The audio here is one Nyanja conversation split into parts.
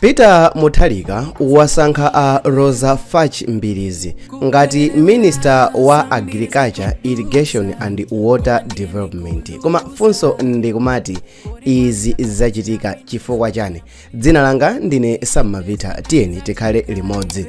peter mutharika wasankha a roza fatch mbilizi ngati minister wa agriculture irrigation and water development koma funso ndikumati izi zachitika chifukwa chani dzina langa ndine sammavita tiyeni tikhale limodzi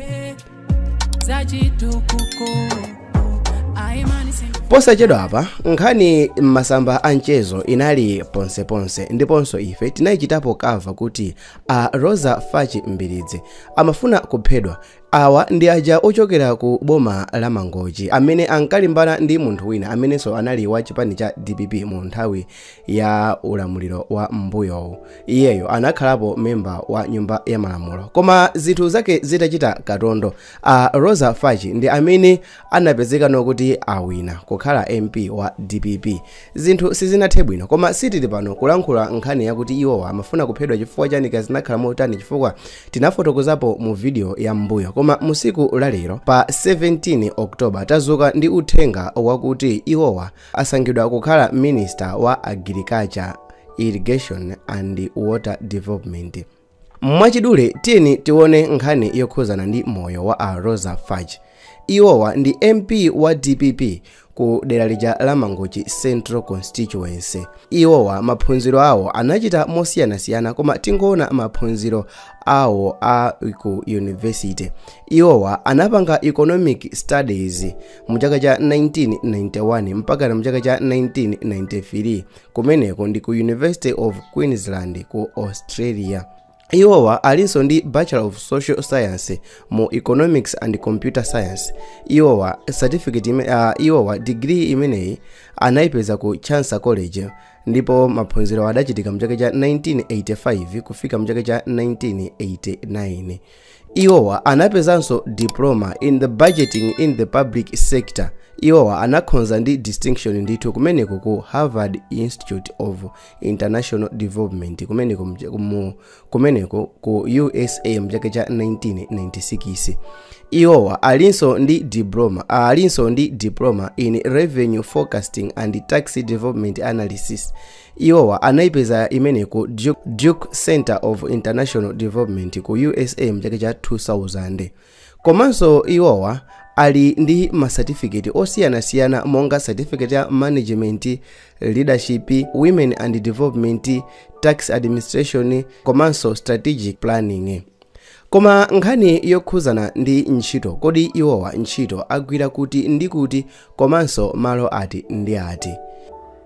posachedwa apa nkhani m'masamba a mchezo inali ponseponse ndiponso ife tinayichitapo kava kuti a roza fatch mbilizi amafuna kuphedwa awa ndi aja ochokera ku boma la mangochi amene ankalimbana ndi munthu wina amenenso anali wa chipani cha dpp mu nthawi ya ulamuliro wa m'mbuyowu iyeyo anakhalapo memba wa nyumba ya malamulo koma zinthu zake zitachita katondo a roza fatch ndi amene anapezekano kuti awina kukhala mp wa dpp zinthu sizinathe bwino koma sitili pano kulankhula nkhani yakuti iwowa amafuna kuphedwa chifukwa chani kapena zinakhala motani chifukwa tinafotokozapo mu video ya m'mbuyo koma musiku lalero pa 17 oktoba tazuka ndi uthenga wakuti iwowa asankhidwa kukhala minister wa agriculture irrigation and water development mwachidule tiyeni tione nkhani yokhuzana ndi moyo wa a roza fatch iwowa ndi mp wa dpp ku dera lija la mangochi central constituency iwowa maphunziro awo anachita mosiyanasiyana koma tingoona maphunziro awo a ku university iwowa anapanga economic studies mu chaka cha 1991 mpaka mu chaka cha 1993 kumeneko ndi ku university of queensland ku australia iwowa alinso ndi bachelor of social science mu economics and computer science iwowa certificate iwowa degree imeneyi anayipeza ku chancellor college ndipo maphunziro adachitika mchaka cha 1985 kufika mchaka cha 1989 Iwowa anapezanso diploma in the budgeting in the public sector iwowa anakhoza ndi distinction ndithu kumeneko ku harvard institute of international development kumeneko ku usa mchaka cha 1996 iwowa alinso ndi diploma in revenue forecasting and tax development analysis Iwowa anaipeza imeneyi ku Duke Center of International Development ku USA mchaka cha 2000. Komanso iwowa ali ndi masatifiketi osiyanasiyana monga certificate ya management, leadership, women and development, tax administration komanso strategic planning. Koma nkhani yokhuzana ndi ntchito kodi iwowa ntchito agwira kuti ndi kuti komanso malo ati ndi ati?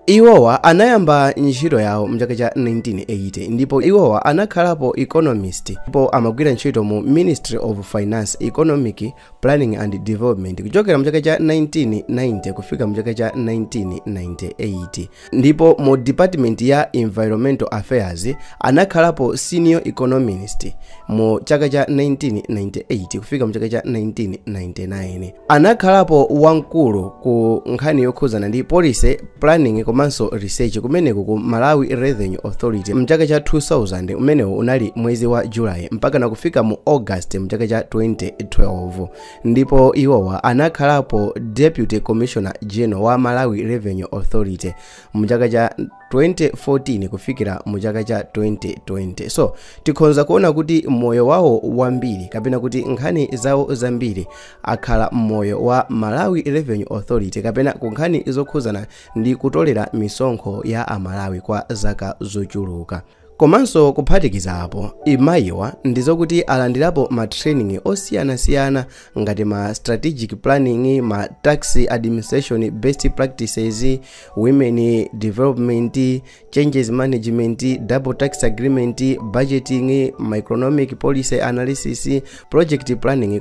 Iwowa anayamba ntchito yawo mchaka cha 1980 ndipo iwowa anakhalapo economist ndipo amagwira ntchito mu Ministry of Finance Economic Planning and Development kuchokera mu chaka cha 1990 kufika mu chaka cha 1998 ndipo mu department ya Environmental Affairs anakhalapo senior economist mu chaka cha 1998 kufika mu chaka cha 1999 anakhalapo wamkulu ku nkhani yokhuzana ndi policy Planning komanso Research kumeneku ku Malawi Revenue Authority mchaka cha 2000 umenewu unali mwezi wa July mpaka na kufika mu August mchaka cha 2012 ndipo iwowa anakhalapo Deputy Commissioner General wa Malawi Revenue Authority mchaka cha 2014 kufikira mu chaka cha 2020 so tikhonza kuona kuti moyo wawo wambiri kapena kuti nkhani zawo zambiri akhala mmoyo wa Malawi Revenue Authority kapena ku nkhani zokhuzana ndi kutolera misonkho ya Amalawi kwa zaka zochuluka. Komanso kuphatikiza apo, imayiwa ndizokuti alandirapo ma training osiyanasiyana ngati ma strategic planning, ma tax administration best practices, women development, changes management double tax agreement budgeting microeconomic policy analysis project planning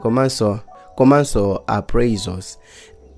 komanso appraisals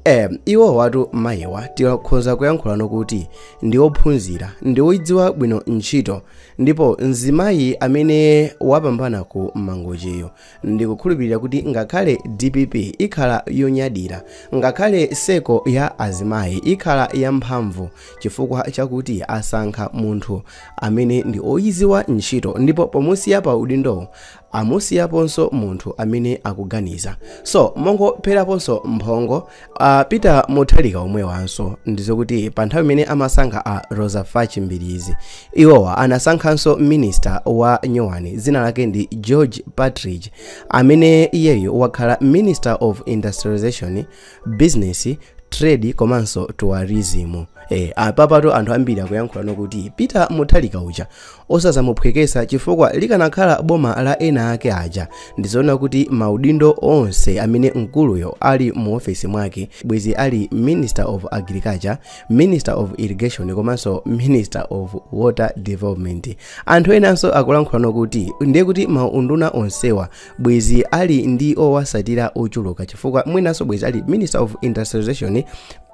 eh, iwowatu mayiwa tikhoza kuyankhulano kuti ndi ophunzira ndi oyidziwa bwino ntchito ndipo mzimayi amene wapambana ku Mangochiyo Ndikukhulupilira kuti ngakhale DPP ikhala yonyadira, ngakhale circle ya azimayi ikhala ya mphamvu chifukwa chakuti asankha munthu amene ndi oyiziwa ntchito ndipo pomusiya pa udindowo amusiyaponso munthu amene akuganiza. So mongopheraponso mphongo a Peter Mutharika omwewanso ndizokuti pa nthawi imene amasankha a Roza Fachi Mbilizi iwowa anasankhanso minista wa nyuwani dzina lake ndi George Partridge amene iyeyo wakhala minister of industrialization business trade komanso tourism e, apapatu anthu ambiri akuyankhulano kuti Peter Mutharika uja Osazamuphwekesa chifukwa likanakhala boma la ena ake aja ndizoona kuti maudindo onse amene mkuluyo ali mu ofesi mwake bwezi ali Minister of Agriculture, Minister of Irrigation komanso Minister of Water Development. Anthu enanso akulankhulano kuti ndiye kuti maunduna onsewa bwezi ali ndi owasatira ochuluka chifukwa mwinanso bwezi ali Minister of Industrialization,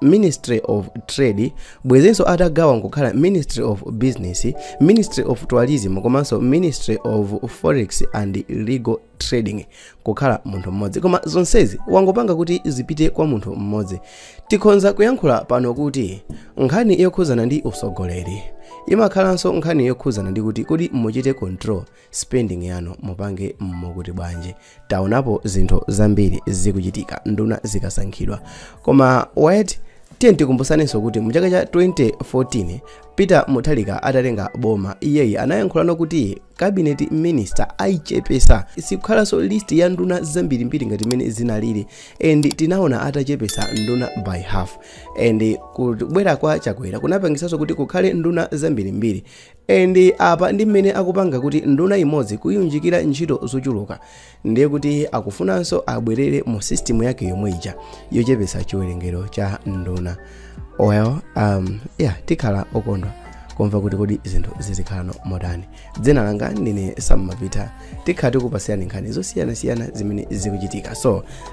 Ministry of Trade bwezinso atagawa nkukhala ministry of business ministry of tourism komanso ministry of forex and legal trading kukhala munthu mmodzi koma zonsezi wangopanga kuti zipite kwa munthu mmodzi tikhonza kuyankhula pano kuti nkhani yokhuzana ndi usogoleri imakhalanso nkhani yokhuzana ndi kuti kodi muchite control spending yanu mupange mokuti bwanji taonapo zinthu zambiri zikuchitika nduna zikasankhidwa koma wait tiye tikumbusanenso kuti mu chaka cha 2014 peter mutharika atatenga boma iyeyi anayankhulano kuti cabinet minister ayichepesa sikukhalanso list ya nduna zambirimbiri ngati imene zinalili and tinaona atachepesa nduna by half and kubwera kwa chakwera kunapangisanso kuti kukhale nduna zambirimbiri And apa ndi mmene akupanga kuti nduna imodzi kuiunjikira ntchito zochuluka ndiye kuti akufunanso abwerere mu system yake yomwe ija yochepetsa chiwerengero cha nduna well um, yeah tikhala okondwa kumva kuti kodi zinthu zizikhalano motani dzina langa ndine Sam Mapita tikhala tikupasirani nkhani zosiyanasiyana zimene zikuchitika so